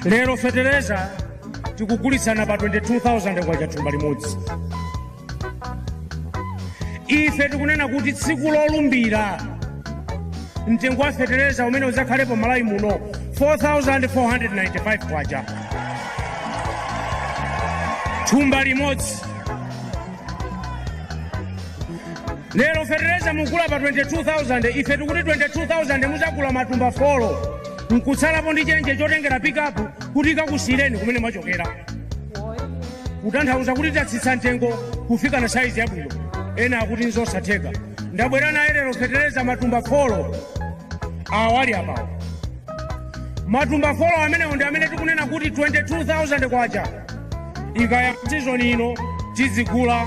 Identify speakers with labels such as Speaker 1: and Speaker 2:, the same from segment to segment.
Speaker 1: lero fetereza tikugulitsana pa 22000 kwacha thumba limodzi ife tikunena kuti tsiku lolumbira mtengo wa fetereza umene udzakhalepo malawi muno 4495 kwacha thumba limodzi lero fetereza mukugula pa 22000 ife tikuti 22000 mudzagula matumba folo nkutsalapo ndi chenje chotengera pikapu kuti ikakusiyireni kumene mwachokera kutanthauza kuti titsitsa mtengo kufika na saizi yabwino ena akuti nzosatheka ndabwera naye lero fetereza matumba folo awo ali apawo matumba folo amenewo ndi amene tikunena kuti 22000 kwacha ikaya sizoni ino tidzigula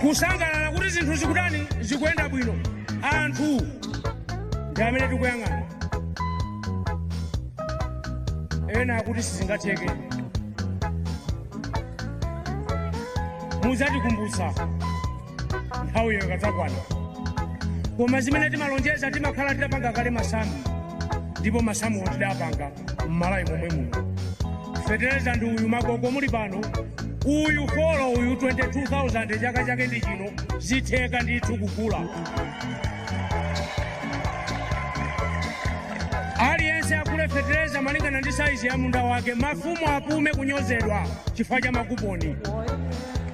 Speaker 1: kusangalala kuti zinthu zikutani zikuyenda bwino anthu ndi amene tikuyang'ana ena akuti sizingatheke mudzatikumbutsa nthawi iyo ikadzakwana koma zimene timalonjeza timakhala tidapanga kale masamu ndipo masamuwo tidapanga mmalawi momwe muno fetereza ndi uyu magogo muli pano uyu folo uyu 22000 chaka chake ndi chino zitheka ndithu kugula aliyense agule fetereza malingana ndi saizi ya munda wake mafumu apume kunyozedwa chifukwa cha makuponi